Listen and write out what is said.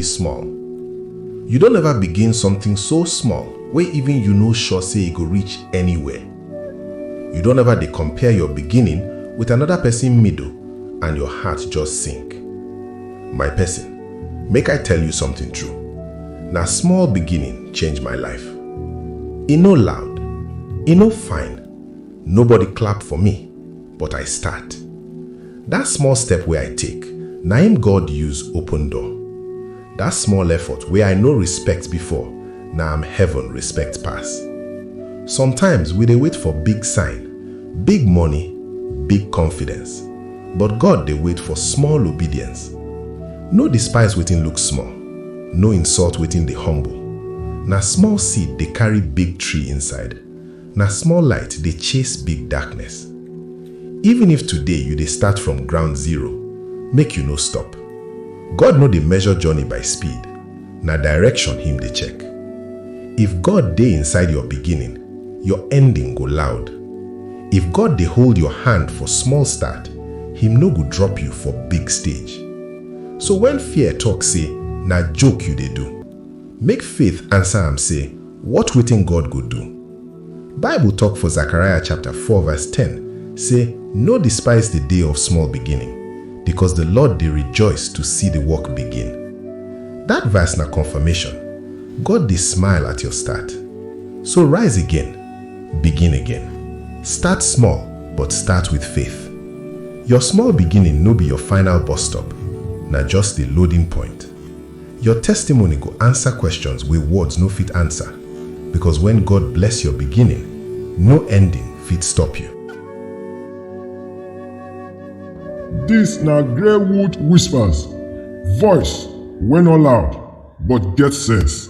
small you don ever begin something so small wey even you no sure say e go reach anywhere you don ever dey compare your beginning with another person middle and your heart just sink my person make i tell you something true na small beginning change my life e no loud e no fine Nobody clap for me, but I start. That small step wey I take, na im God use open door. That small effort wey I no respect before, na am heaven respect pass. Sometimes we dey wait for big sign, big money, big confidence, but God dey wait for small obedience. No despise wetin look small, no insult wetin dey humble. Na small seed dey carry big tree inside. Na small light dey chase big darkness. Even if today you dey start from ground zero, make you no stop. God no dey measure journey by speed, na direction him dey check. If God dey inside your beginning, your ending go loud. If God dey hold your hand for small start, him no go drop you for big stage. So when fear talk say na joke you dey do, Make faith ansa am sey, Wot wetin God go do? Bible tok for Zechariah chapta four vise ten sey, No despise di day of small beginning, bikos di Lord dey rejoice to si di work begin. Dat vise na konfamashon, God dey smile at yor start. So rise again, begin again. Start small, but start with faith. Yor small beginning no bi yor final bus stop, na just di loading point. Your testimony go answer questions wey words no fit answer, because when God bless your beginning, no ending fit stop you. Dis na Greywood Whispers, voice wey no loud but get sense.